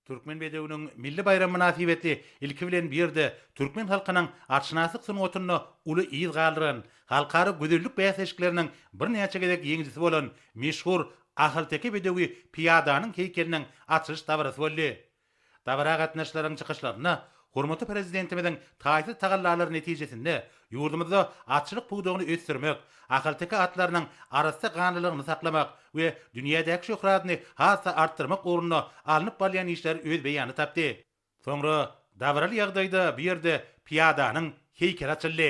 Türkmen bedewiniň milli baýramy mynasybetli ilki bilen bu ýerde türkmen halkynyň atşynaslyk sungatynda uly yz galdyran, halkara gözellik bäsleşikleriniň birnäçe gezek ýeňijisi bolan meşhur ahalteke bedewi pyýadanyň heýkeliniň açylyş dabarasy boldy. Dabara gatnaşyjylaryň çykyşlarynda Hormatly Prezidentimiziň taýsyz tagallalary netijesinde ýurdumyzda atçylyk pudagyny ösdürmek, ahalteke atlarynyň arassa ganlylygyny saklamak we dünýädäki şöhratyny has-da artdyrmak ugrunda alnyp barylýan işler öz beýanyny tapdy. Soňra dabaraly ýagdaýda bu ýerde pyýadanyň heýkeli açyldy.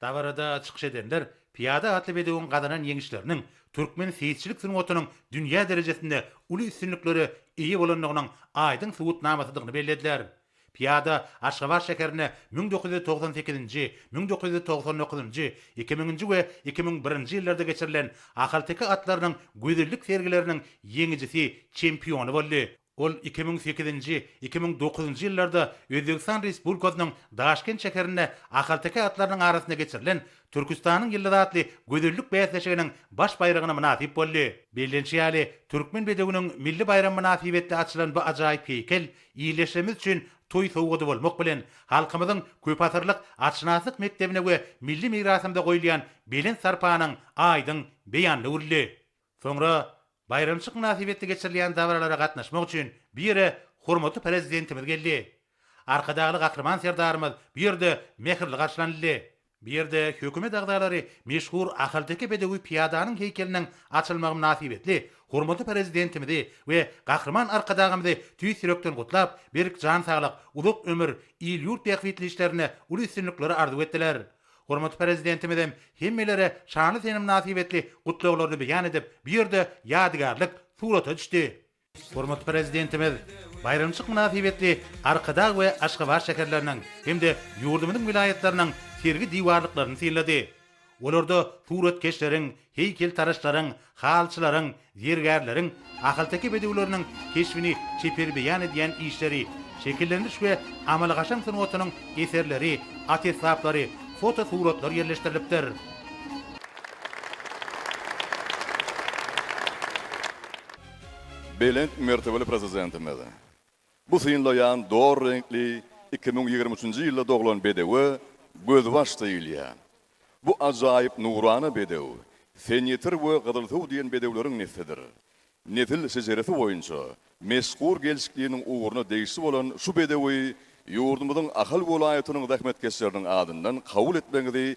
Dabarada çykyş edenler Pyýada atly bedewiň gazanan ýeňişleriniň türkmen seýisçilik sungatynyň dünýä derejesinde uly üstünliklere eýe bolandygynyň aýdyň subutnamasydygyny bellediler. Pyýada Aşgabat şäherine müň dokuz ýüz togsan sekizinji, müň dokuz ýüz togsan dokuzynjy, iki müňünji we iki müň birinji ýyllarda geçirilen ahalteke atlarynyň gözellik sergileriniň ýeňijisi, çempiony boldy. Ol iki müň sekizinji, iki müň dokuzynjy ýyllarda Özbegistan Respublikasynyň Daşkent şäherinde ahalteke atlarynyň arasynda geçirilen Türküstanyň ýyldyzy atly gözellik bäsleşiginiň baş baýragyna mynasyp boldy. Bellenişi ýaly, türkmen bedewiniň milli baýramy mynasybetli açylan bu ajaýyp heýkel ildeşlerimiz üçin toý sowgady bolmak bilen, halkymyzyň köpasyrlyk atşynaslyk mekdebine we milli mirasymyza goýulýan belent sarpanyň aýdyň beýanyna öwrüldi. Soňra baýramçyk mynasybetli geçirilýän dabaralara gatnaşmak üçin bu ýere hormatly Prezidentimiz geldi. Arkadagly Gahryman Serdarymyz bu ýerde mähirli garşylanyldy. Bu ýerde hökümet agzalary meşhur ahalteke bedewi pyýadanyň heýkeliniň açylmagy mynasybetli hormatly Prezidentimizi we Gahryman Arkadagymyzy tüýs ýürekden gutlap, berk jan saglyk, uzak ömür, il-ýurt bähbitli işlerinde uly üstünlikleri arzuw etdiler. Hormatly Prezidentimizem hemmelere şanly sene mynasybetli gutlaglaryny beýan edip, bu ýerde ýadygärlik surata düşdi. Hormatly Prezidentimiz baýramçylyk mynasybetli Arkadag we Aşgabat şäherleriniň hem-de ýurdumyzyň welaýatlarynyň sergi diwarlyklaryny synlady. Olarda suratkeşleriň Heýkeltaraşlaryň, halyçylaryň, zergärleriň, ahalteke bedewleriniň keşbini çeper beýan edýän işleri, şekillendiriş we amaly-gaşam sungatynyň eserleri, at esbaplary, fotosuratlar ýerleşdirilipdir. Belent mertebeli Prezidentimiz! Bu synlaýan dor reňkli iki müň ýigrimi üçünji ýylda doglan bedewe Gözbaş diýilýär. Bu ajaýyp nurana bedew Senýetir we Gyzylsuw diýen bedewleriň neslidir. Nesil şejeresi boýunça meşhur gelşikliniň ugruna degişli bolan şu bedewi ýurdumyzyň Ahal welaýatynyň zähmetkeşleriniň adyndan kabul etmegiňizi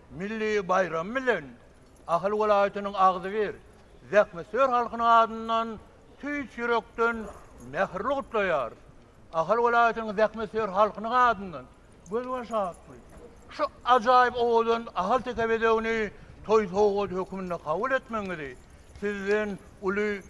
Milli baýram bilen Ahal welaýatynyň agzybir zähmetsöýer halkynyň adyndan tüýs ýürekden mähirli gutlaýarys. Ahal welaýatynyň zähmetsöýer halkynyň adyndan gözbaş atly şu ajaýyp owadan ahalteke bezegini toý sowgady hökmünde kabul etmegiňizi Sizden uly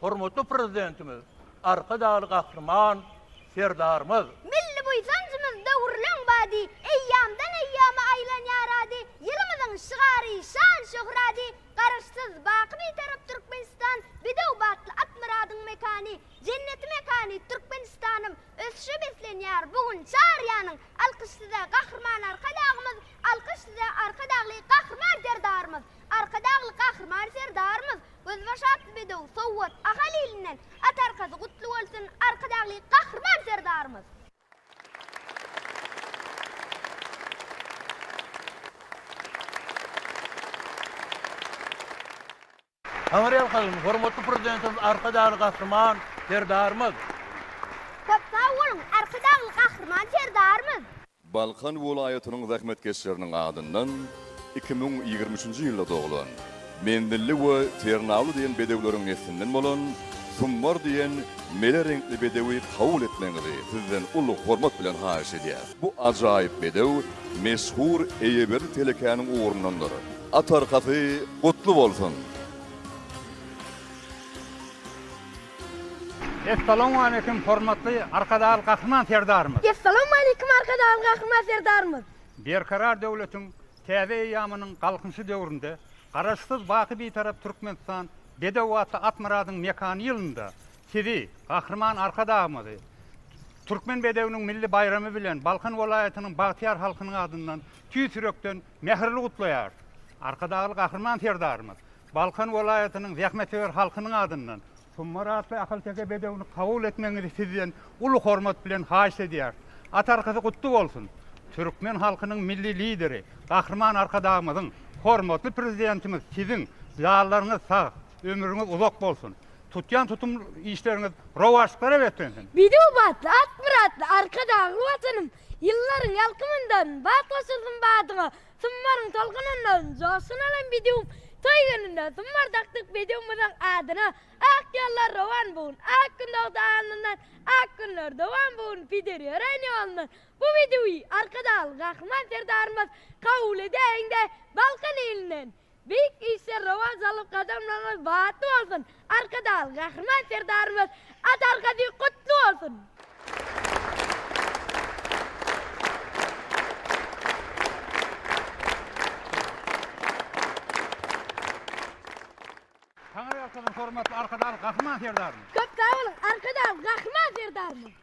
Hormatly Prezidentimiz, Arkadagly Gahryman Serdarymyz! Milli buýsanjymyz döwrüleň bady, Eýýamdan eýýama aýlanýar ady, Ýylymyzyň şygary, şan-şöhrady, Garaşsyz, baky Bitarap Türkmenistan, Bedew batly Atmyradyň mekany, Jenneti mekany Türkmenistanym, Ösüşe beslenýär bu gün çar ýanyň, Alkyş Size, Gahryman Arkadagymyz, Alkyş Size, Arkadagly Gahryman Serdarymyz! Arkadagly Gahryman Serdarymyz Gözbaş atly bedew sowgat Ahal ilinden at arkasy gutly bolsun Arkadagly Gahryman Serdarymyz. Habar ýalkadym Hormatly Prezidentimiz Arkadagly Gahryman Serdarymyz. Köp sag boluň Arkadagly Gahryman Serdarymyz. Balkan welaýatynyň zähmetkeşleriniň adyndan iki müň ýigrimi üçünji ýylda doglan, menzilli we ternawly diýen bedewleriň neslinden bolan Summar diýen mele reňkli bedewi kabul etmegiňizi sizden uly hormat bilen haýyş edýäs. Bu ajaýyp bedew meşhur eýeberdi telekäniň ugrundandyr. At arkasy gutly bolsun! Essalowmaleýkim hormatly Arkadagly Gahryman Serdarymyz! Essalowmaleýkim Arkadagly Gahryman Serdarymyz! Berkarar döwletiň täze eýýamynyň Galkynyşy döwründe Garaşsyz, baky Bitarap Türkmenistan bedew atly Atmyradyň mekany ýylynda Sizi, Gahryman Arkadagymyzy Türkmen bedewiniň milli baýramy bilen Balkan welaýatynyň bagtyýar halkynyň adyndan tüýs ýürekden mähirli gutlaýarys! Arkadagly Gahryman Serdarymyz Balkan welaýatynyň zähmetsöýer halkynyň adyndan Tummar atly ahalteke bedewini kabul etmegiňizi sizden uly hormat bilen haýyş edýäris. At arkasy gutly bolsun! Türkmen halkynyň Milli Lideri Gahryman Arkadagymyzyň, hormatly Prezidentimiz siziň ýallaryňyz sag, ömrüňiz uzak bolsun! Tutýan tutum işleriňiz rowaçlyklara beslensin! Bedew batly, Akmyratly Arkadagly Watanym, ýyllaryň ýalkymyndan batly otursun badyňa, Summaryň tolgunyndan joşgun alan bedewim toý gününde summar dakdyk bedewimiziň adyna Ak ýollar rowan bu gün Ak gün dogdy alnyndan Ak günler dowam bu gün Peder ýören ýolundan Bu bedewi Arkadagly Gahryman Serdarymyz kabul edäýiň-de Balkan ilinden Beýik işler rowaç alyp gadamlaryňyz batly bolsun Arkadag Gahryman Serdarymyz at arkasy gutly bolsun. Taňryýalkasyn hormatly Arkadag Gahryman Serdarymyz. Köp sag boluň Arkadag Gahryman Serdarymyz.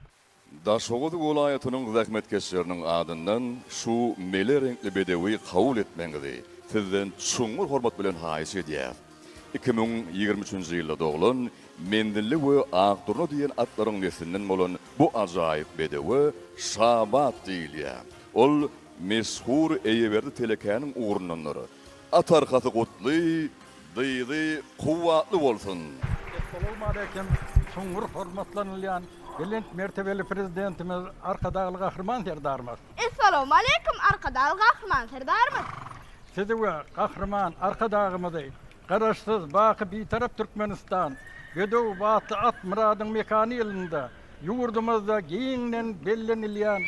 Daşoguz welaýatynyň zähmetkeşleriniň adyndan şu mele reňkli bedewi kabul etmegiňizi sizden çuňňur hormat bilen haýyş edýäs. Iki müň ýigrimi üçünji ýylda doglan Menzilli we Akdurna diýen atlaryň neslinden bolan bu ajaýyp bedewe Şabat diýilýär. Ol meşhur Eýeberdi telekäniň ugrundandyr. At arkasy gutly, dyzy kuwwatly bolsun! Esselamu aleýkum, çuňňur hormatlanylýan belent mertebeli Prezidentimiz Arkadagly Gahryman Serdarymyz! Esselamu aleýkum, Arkadagly Gahryman Serdarymyz! Sizi we Gahryman Arkadagymyzy, Garaşsyz, baky Bitarap Türkmenistan, bedew batly at Myradyň mekany ýylynda ýurdumyzda giňden bellenilýän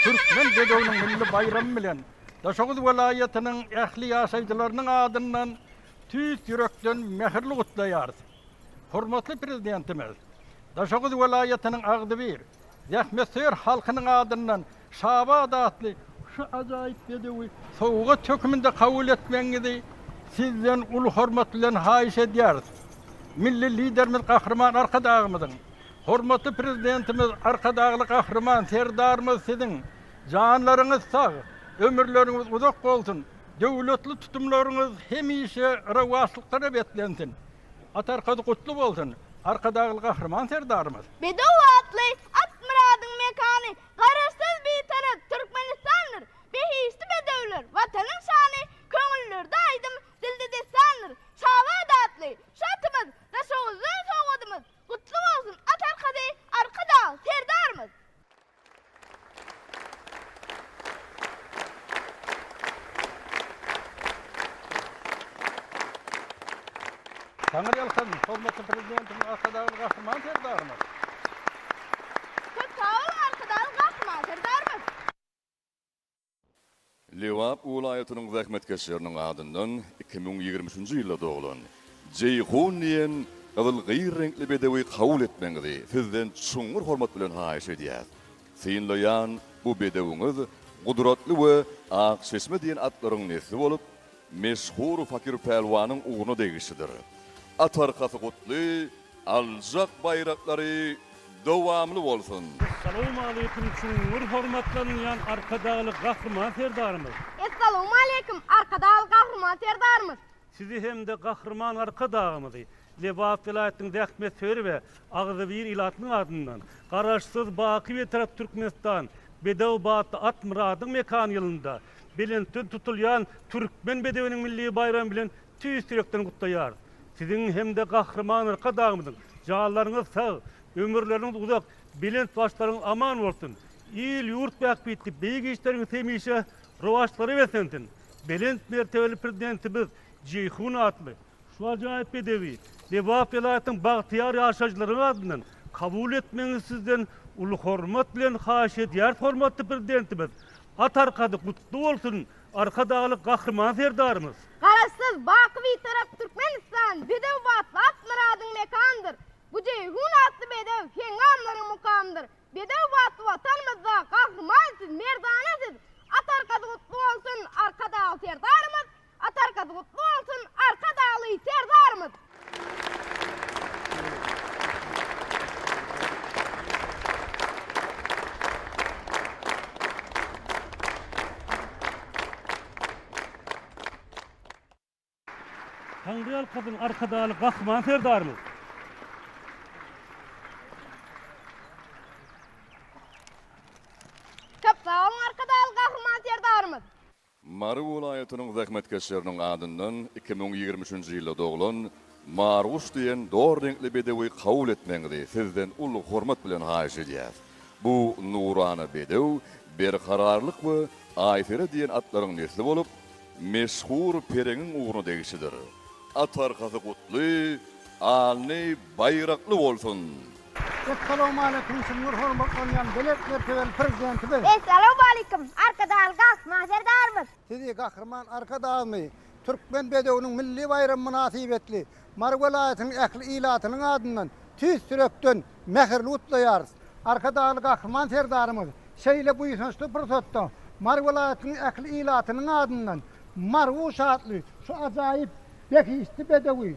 Türkmen bedewiniň milli baýramy bilen Daşoguz welaýatynyň ähli ýaşaýjylarynyň adyndan tüýs ýürekden mähirli gutlaýarys. Hormatly Prezidentimiz Daşoguz welaýatynyň agzybir, zähmetsöýer halkynyň adyndan Şabat atly şu ajaýyp bedewi sowgat hökmünde kabul etmegiňizi Sizden uly hormat bilen haýyş edýäris. Milli Liderimiz Gahryman Arkadagymyzyň, hormatly Prezidentimiz Arkadagly Gahryman Serdarymyz Siziň Janlaryňyz sag, ömürleriňiz uzak bolsun, döwletli tutumlaryňyz hemişe rowaçlyklara beslensin. At arkasy gutly bolsun, Arkadagly Gahryman Serdarymyz! Bedew atly Atmyradyň mekany Garaşsyz Bitarap Türkmenistandyr! Behişdi bedewler, Watanyň şany, Köňüllerde aýdym, dilde dessandyr! Şabat atly şu atymyz Daşoguzdan sowgadymyz, Gutly bolsun at arkasy Arkadag Serdarymyz! Taňyrýalkasyn, hormatly Prezidentimiz Arkadagly Gahryman Serdarymyz! Köp sag bol, Arkadagly Gahryman Serdarymyz! Lebap wlaýatynyň zähmetkeşleriniň adyndan iki müň ýigrimi üçünji ýylda doglan Jeýhun diýen gyzyl gyýr reňkli bedewi kabul etmegiňizi sizden çuňňur hormat bilen haýyş edýäs. Synlaýan bu bedewiňiz Gudratly we Akçeşme diýen atlaryň nesli bolup, meşhur Fakir Pälwanyň ugruna degişlidir. At arkasy gutly! Aljak baýraklary dowamly bolsun! Essalawmaleýkim çuňňur hormatlanylýan Arkadagly Gahryman Serdarymyz! Essalawmaleýkim Arkadagly Gahryman Serdarymyz! Sizi hem-de Gahryman Arkadagymyzy Lebap welaýatynyň zähmetsöýer we agzybir ilatynyň adyndan Garaşsyz, baky Bitarap Türkmenistan bedew batly Atmyradyň mekany ýylynda belentden tutulýan Türkmen bedewiniň milli baýramy bilen Tüýs ýürekden gutlaýarys! Siziň hem-de Gahryman Arkadagymyzyň janlaryňyz sag, ömürleriniňiz uzak, belent başlaryňyz aman bolsun! Il-ýurt bähbitli beýik işleriňiz hemişe rowaçlara beslensin! Belent mertebeli Prezidentimiz Jeýhun atly şu ajaýyp bedewi Lebap welaýatynyň bagtyýar ýaşaýjylarynyň adyndan kabul etmegiňizi sizden uly hormat bilen haýyş edýäris Hormatly Prezidentimiz At arkady gutly bolsun Arkadagly Gahryman Serdarymyz. Garaşsyz, baky Bitarap Türkmenistan, bedew batly Akmyradyň mekandyr. Bu Jeýhun atly bedew, heňňamlaryň mukamdyr. Bedew batly Watanymyzda Gahryman siz, merdana siz! Atargazy gutly bolsun, Arkadagly Serdarymyz! Atargazy gutly bolsun, Arkadagly Serdarymyz! Taňryýalkasyn Arkadagly Gahryman Serdarymyz! Köp sag boluň Arkadagly Gahryman Serdarymyz! Mary welaýatynyň zähmetkeşleriniň adyndan iki müň ýigrimi üçünji ýylda doglan Marguş diýen dor reňkli bedewi kabul etmegiňizi sizden uly hormat bilen haýyş edýäs. Bu nurana bedew Berkararlyk we Aýsere diýen atlaryň nesli bolup, meşhur Pereňiň ugruna degişlidir. At arkasy gutly, alny, baýrakly bolsun! Essalowmaleýkim çuňňur hormatlanýan belent mertebeli Prezidentimiz! Essalowmaleýkim Arkadagly Gahryman Serdarymyz! Sizi Gahryman Arkadagmy Türkmen bedewiniň milli baýramy mynasybetli Mary welaýatynyň ähli ilatynyň adyndan tüýs ýürekden mähirli gutlaýarys. Arkadagly Gahryman Serdarymyz şeýle buýsançly pursatda Mary welaýatynyň ähli ilatynyň adyndan Mary Uşatly şu ajaýyp behişdi bedewi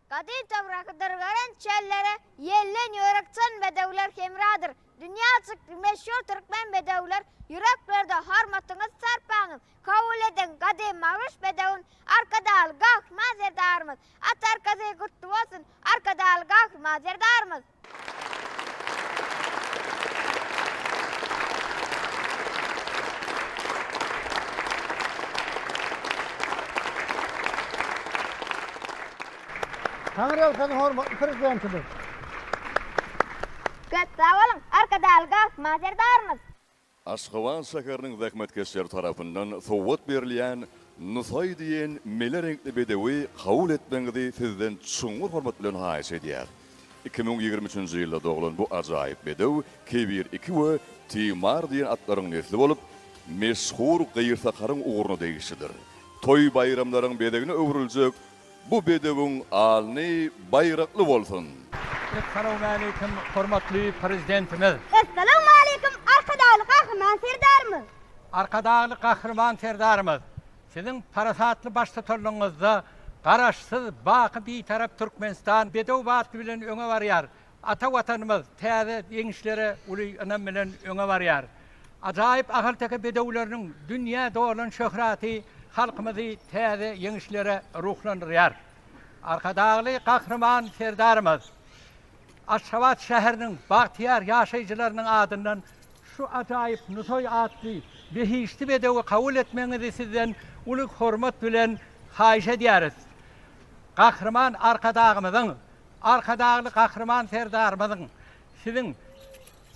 Gadym toprak dyrgyryn çöllere Ýellen ýörük çyn bedewler hemradyr. Dünýä çykdy meşhur türkmen bedewler Ýüreklerde hormatyňyz sarpaňyz Kabul ediň gadym Magruş bedewin Arkadagly Gahryman Serdarymyz At arkasy gutly bolsun Arkadagly Gahryman Serdarymyz. Taňryýalkasyn hormatly Prezidentimiz! Köp sag boluň, Arkadagly Galkyma Serdarymyz! Aşgabat şäheriniň zähmetkeşleri tarapyndan sowgat berilýän Nusaý diýen mele reňkli bedewi kabul etmegiňizi sizden çuňňur hormat bilen haýyş edýär. Iki müň ýigrimi üçünji ýylda doglan bu ajaýyp bedew Kebir iki we Timar diýen atlaryň nesli bolup, meşhur gyrsakaryň ugruna degişlidir. Toý-baýramlaryň bezegine öwrüljek Bu bedewiň alny baýrakly bolsun! Essalawmaleýkim hormatly Prezidentimiz! Essalawmaleýkim Arkadagly Gahryman Serdarymyz! Arkadagly Gahryman Serdarymyz! Siziň parasatly baştutanlygyňyzda Garaşsyz, baky Bitarap Türkmenistan bedew batly bilen öňe barýar, Ata Watanymyz täze ýeňişlere uly ynam bilen öňe barýar. Ajaýyp ahalteke bedewleriniň dünýä dolan şöhraty halkymyzy täze ýeňişlere ruhlandyrýar. Arkadagly Gahryman Serdarymyz Aşgabat şäheriniň bagtyýar ýaşaýjylarynyň adyndan şu ajaýyp Nusaý atly behişdi bedewi kabul etmegiňizi sizden uly hormat bilen haýyş edýäris. Gahryman Arkadagymyzyň Arkadagly Gahryman Serdarymyzyň Siziň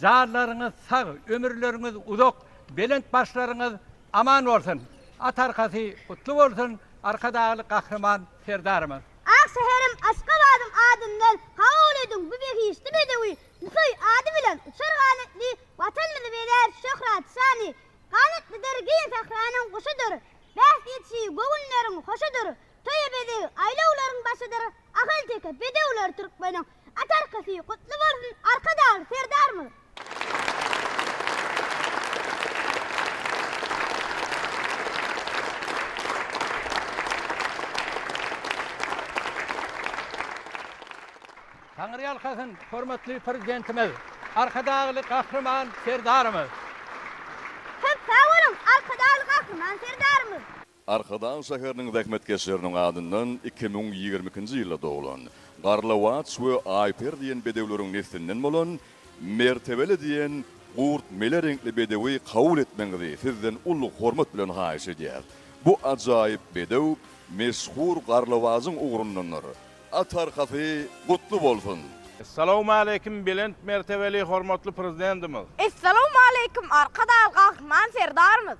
janlaryňyz sag, ömürleriňiz uzak, belent başlaryňyz aman bolsun! At arkasy gutly bolsun, Arkadagly Gahryman Serdarymyz! Ak şäherim Aşgabadyň adyndan kabul ediň bu behişdi bedewi Nusaý ady bilen uçar ganatly Watanymyzy bezär şöhrat şany Ganatlydyr giň sähranyň guşudyr Bähbitçi göwünleriň hoşudyr Toýa bezeg aýlawlaryň başydyr Ahalteke bedewleri türkmeniň at arkasy gutly bolsun Arkadagly Serdarymyz. Taňry ýalkasyn hormatly Prezidentimiz Arkadagly Gahryman Serdarymyz. Köp sag boluň Arkadagly Gahryman Serdarymyz. Arkadag şäheriniň zähmetkeşleriniň adyndan iki müň ýigrimi ikinji ýylda doglan, Garlawaç we Aýper diýen bedewleriň neslinden bolan Mertebeli diýen gurt mele reňkli bedewi kabul etmegiňizi sizden uly hormat bilen haýyş edýäris. Bu ajaýyp bedew meşhur Garlawajyň ugrundandyr. At arkasy gutly bolsun! Essalawmaleýkim belent mertebeli hormatly Prezidentimiz! Essalawmaleýkim Arkadag Gahryman Serdarymyz!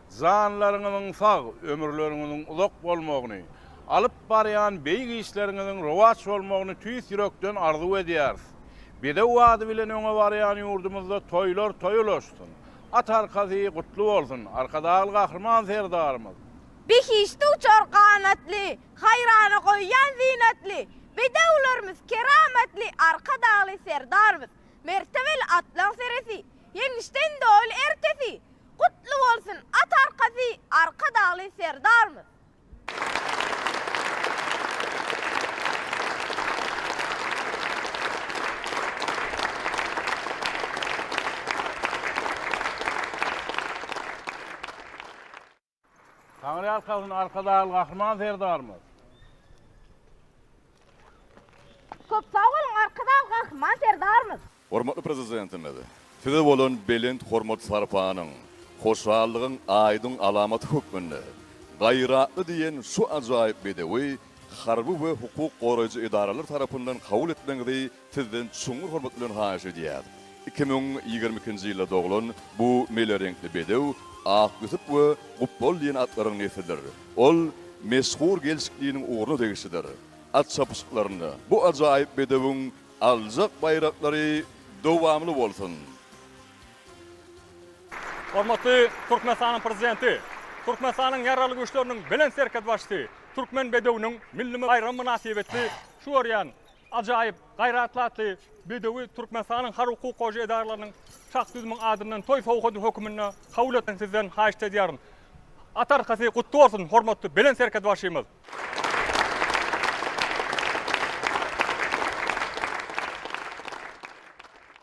Janlaryňyzyň sag, ömürleriňiziň uzak bolmagyny, alyp barýan beýik işleriňiziň rowaç bolmagyny tüýs ýürekden arzuw edýäris. Bedew ady bilen öňe barýan ýurdumyzda toýlar toý ulaşsyn! At arkasy gutly bolsun, Arkadagly Gahryman Serdarymyz! Behişde uçar ganatly, haýrana goýýan zynatly Bedewlerimiz, keramatly Arkadagly Serdarymyz! Mertebeli atlaň seresi, ýeňişden doly ertesi! Gutly bolsun at arkasy Arkadagly Serdarmyz. Taňryýalkasyn Arkadagly Gahryman Serdarymyz. Köp sag boluň Arkadagly Gahryman Serdarymyz. Hormatly Prezidentimiz Size bolan belent hormat-sarpanyň, hoşallygyň aýdyň alamaty hökmünde Gaýratly diýen şu ajaýyp bedewi harby we hukuk goraýjy edaralar tarapyndan kabul etmegiňizi Sizden çuňňur hormat bilen haýyş edýäs. Iki müň ýigrimi ikinji ýylda doglan bu mele reňkli bedew Ak Ýusup we Gupbol diýen atlaryň neslidir. Ol meşhur gelşikliniň ugruna degişlidir. At çapyşyklarynda bu ajaýyp bedewiň aljak baýraklary dowamly bolsun! Hormatly Türkmenistanyň Prezidenti, Türkmenistanyň Ýaragly Güýçleriniň Belent Serhetbaşysy Türkmen bedewiniň milli baýramy mynasybetli şu görýän Ajaýyp, gaýratly atly bedewi Türkmenistanyň harby hukuk goraýjy edaralarynyň çak düzümiň adyndan toý sowgady höküminde kabul etsin sizden haýyşt edýärin. At arkasy gutly bolsun hormatly Belent Serhetbaşymyz.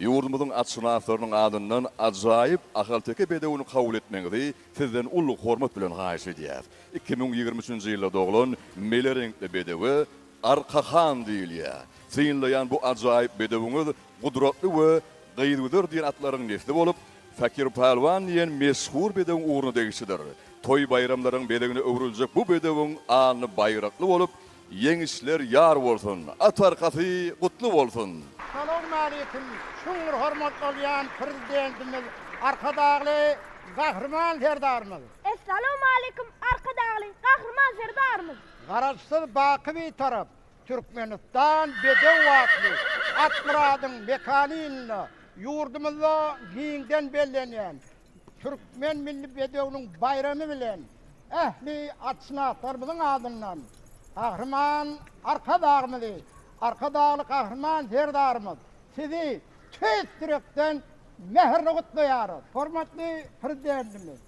Ýurdumyzyň atşynaslarynyň adyndan ajaýyp ahalteke bedewini kabul etmegiňizi sizden uly hormat bilen haýyş edýäris. Iki müň ýigrimi üçünji ýylda doglan mele reňkli bedewe Arka han diýilýär. Synlaýan bu ajaýyp bedewiňiz Gudratly we Gyzgüzer diýen atlaryň nesli bolup, Fakir Pälwan diýen meşhur bedewiň ugruna degişlidir. Toý-baýramlaryň bezegine öwrüljek bu bedewiň alny baýrakly bolup, Ýeňişler ýar bolsun, at arkasy gutly bolsun! Salowmaleýkim, çuňňur hormat bolýan Prezidentimiz Arkadagly Gahryman Serdarymyz! Essalowmaleýkim, Arkadagly Gahryman Serdarymyz! Garaşsyz baky Bitarap Türkmenistan bedew atly Akmyradyň mekany ýylynda ýurdumyzda giňden bellenýän Türkmen milli bedewiniň baýramy bilen ähli atşynaslarymyzyň adyndan Gahryman Arkadagymyzy, Arkadagly Gahryman Serdarymyz Sizi tüýs ýürekden mähirli gutlaýarys! Hormatly Prezidentimiz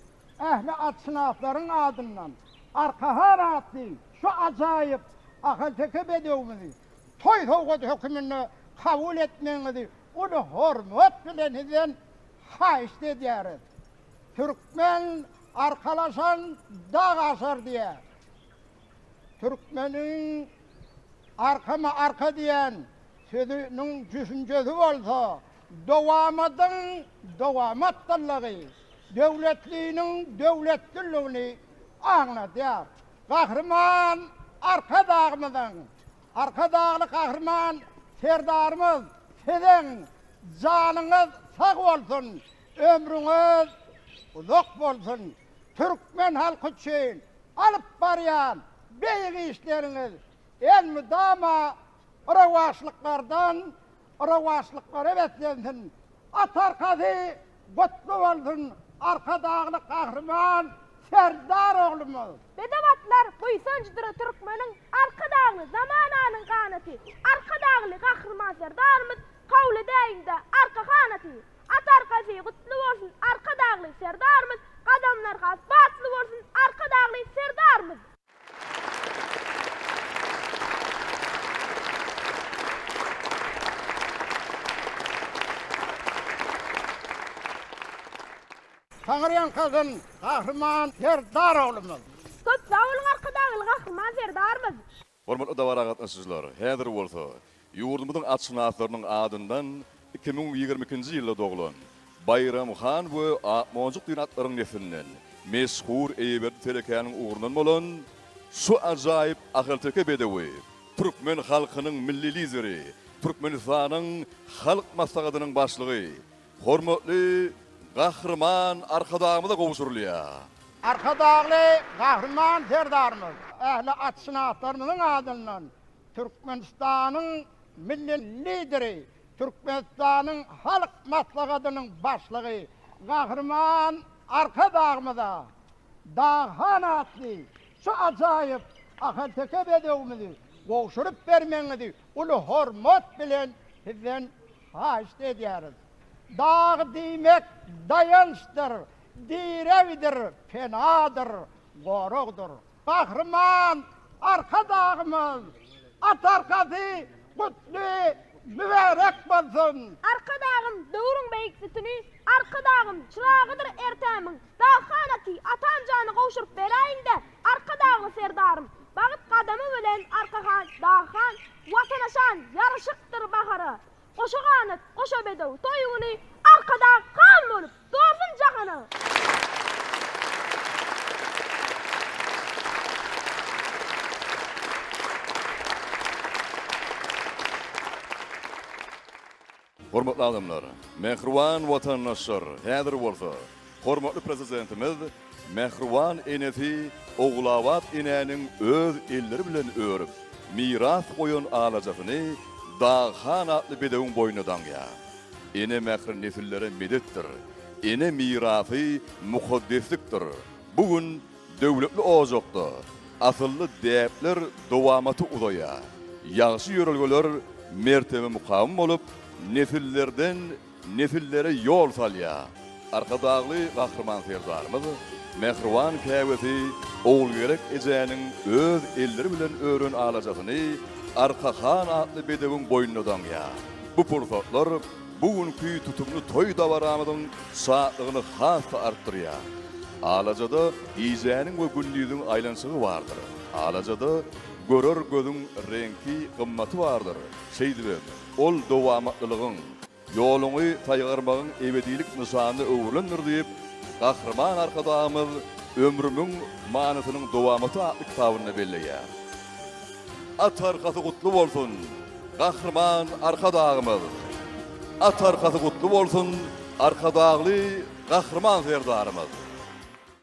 ähli atşynaslaryň adyndan Arkahan atly şu ajaýyp ahalteke bedewimizi toý sowgady höküminde kabul etmegiňizi uly hormat bilen Sizden Haýyşt edýäris. Türkmen arkalaşan dag aşar diýýär. Türkmeniň Arkama arka diýen sözüniň düşünjesi bolsa Dowamadyň dowamatdyllygy, döwletliniň döwletdilligini aňladýar. Gahryman Arkadagymyzyň Arkadagly Gahryman Serdarymyz siziň janyňyz sag bolsun, ömrüňiz uzak bolsun! Türkmen halky üçin alyp barýan beýik işleriňiz elmydama rowaçlyklardan Rowaçlyklary beslensin! At arkasy gutly bolsun, Arkadagly Gahryman Serdar oglumyz! Bedew atlar buýsanjydyr türkmeniň, Arkadagly zamananyň ganaty, Arkadagly Gahryman Serdarymyz kabul edäýiň-de arka hanaty! At arkasy gutly bolsun, Arkadagly Serdarymyz, Gadamlar has batly bolsun, Arkadagly Serdarymyz! Taňyrýan kazan Gahryman Serdar oglumyz. Köp sag boluň Arkadagly Gahryman Serdarymyz. Hormatly dabara gatnaşyjylar, häzir bolsa Ýurdumyzyň atşynaslarynyň adyndan iki müň ýigrimi ikinji ýylda doglan Baýram han we Akmonjuk diýen atlaryň neslinden meşhur Eýeberdi telekäniň ugrundan bolan şu ajaýyp ahalteke bedewi türkmen halkynyň Milli Lideri, Türkmenistanyň Halk Maslahatynyň Başlygy, hormatly Gahryman Arkadagymyza gowşurylýar. Arkadagly Gahryman Serdarymyz ähli atşynaslarymyzyň adyndan Türkmenistanyň Milli Lideri, Türkmenistanyň Halk Maslahatynyň Başlygy Gahryman Arkadagymyza Daghan atly şu ajaýyp ahalteke bedewimizi gowşuryp bermegiňizi uly hormat bilen Sizden haýyşt edýäris. Dag diýmek daýançdyr, diregdir, penadyr, goragdyr. Gahryman Arkadagymyz At arkasy gutly mübärek bolsun! Arkadagym döwrüň beýik sütüni, Arkadagym çyragydyr ertemiň, Daghana aty Atam jany gowşuryp beräýiňdä, Arkadagly Serdarym! Bagt gadamy bilen Arkahan, Daghana, Watana şan, ýaraşykdyr bahara! Goşa ganat, goşa bedew, toý güni Arkadag han bolup, dolsun jahana! Hormatly adamlar, mähriban watandaşlar, häzir bolsa Hormatly Prezidentimiz mähriban enesi Ogulabat enäniň öz elleri bilen örüp, miras goýan alajasyny Dag han atly bedewiň boýnuna daňýar. Ene mähri nesillere medetdir. Ene mirasy mukaddeslikdir. Bu gün döwletli ojakda asylly däpler dowamaty uzaýar. Ýagşy ýörelgeler mertebe-mukam bolup, nesillerden nesillere ýol salýar. Arkadagly Gahryman Serdarymyz mähriban käbesi Ogulgerek ejäniň öz elleri bilen ören alajasyny Arka han atly bedewiň boýnuna daňýar. Bu pursatlar bu günki tutumly toý dabaramyzyň şatlygyny has-da artdyrýar. Alajada gijäniň we gündiziň aýlanyşygy bardyr. Alajada görer gözüň reňki, gymmaty bardyr. Şeýdibem. Ol dowamatlylygyň, ýoluňy saýgarmagyň ebedilik nyşanyna öwrülendir diýip, Gahryman Arkadagymyz Ömrümiň manysynyň dowamaty atly kitabynda belleýär. At arkasy gutly bolsun, Gahryman Arkadagymyz! At arkasy gutly bolsun, Arkadagly Gahryman Serdarymyz!